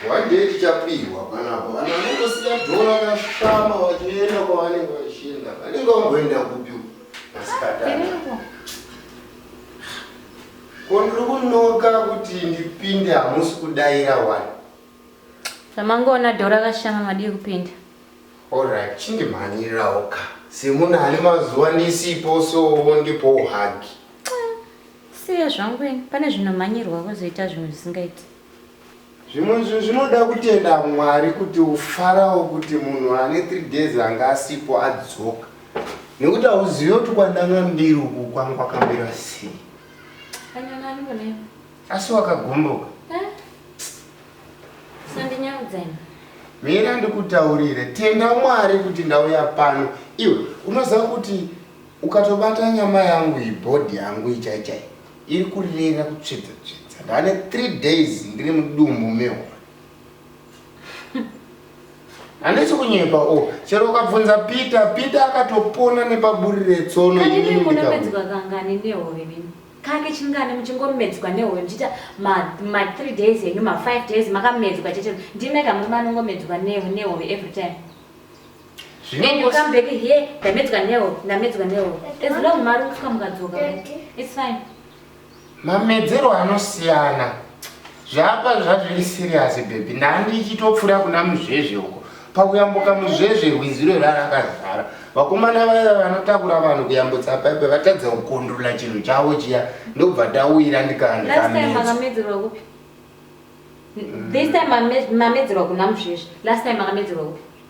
One day tichapihwa panapa vanhu vanongosiya dhora kashama vachienda kwavanenge vachienda vanenge vamboenda kupi masikatani ko ndiri kunoka kuti ndipinde hamusi kudaira wani zvamangoona dhora kashama madii kupinda orit chindimhanyirirawo ka semunhu ane mazuva ndisipo sowo ndipo uhagi siya zvangu ini pane zvinomhanyirwa kozoita zvimwe zvisingaiti zvimwe zvinhu zvinoda kutenda mwari kuti ufarawo kuti munhu ane three days anga asipo adzoka nekuti hauzive kuti kwandanga mbiri uku kwangu kwakamira sei asi wakagomboka eh? mira ndikutaurire tenda mwari kuti ndauya pano iwe unoziva kuti ukatobata nyama yangu ibhodhi yangu ichaichai Iri kurira kutsvedza tsvedza. Ndane 3 days ndiri mudumbu mehwa. Handisi kunyepa o. Oh. Chero ukabvunza Peter, Peter akatopona nepaburi retsono ini ndikabu. Kani muna medzwa kangani nehove mimi? kake chingani muchingomedzwa nehoyo ndichiita ma3 days enyu ma5 days makamedzwa chete ndimega muri manongomedzwa nehove every time And you come back here, ndamedzwa newo, ndamedzwa newo. As long mari kusvika mukadzoka, it's fine. Mamedzero anosiyana. Zvapa zvazviri serious baby. Ndandichitopfura kuna muzvezve uko. Pakuyambuka muzvezve rwiziro rwarakazara. Vakomana vaya vanotakura vanhu kuyambutsa paipe vatadza kukondrola chinhu chavo chiya ndobva tawira ndikandi Last time kamedza. makamedzerwa kupi? This time mame- mamedzerwa kuna muzvezvi. Last time makamedzerwa kupi?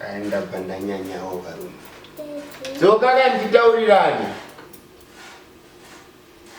aenda pandanyanyawo varume dzoka kanditaurirani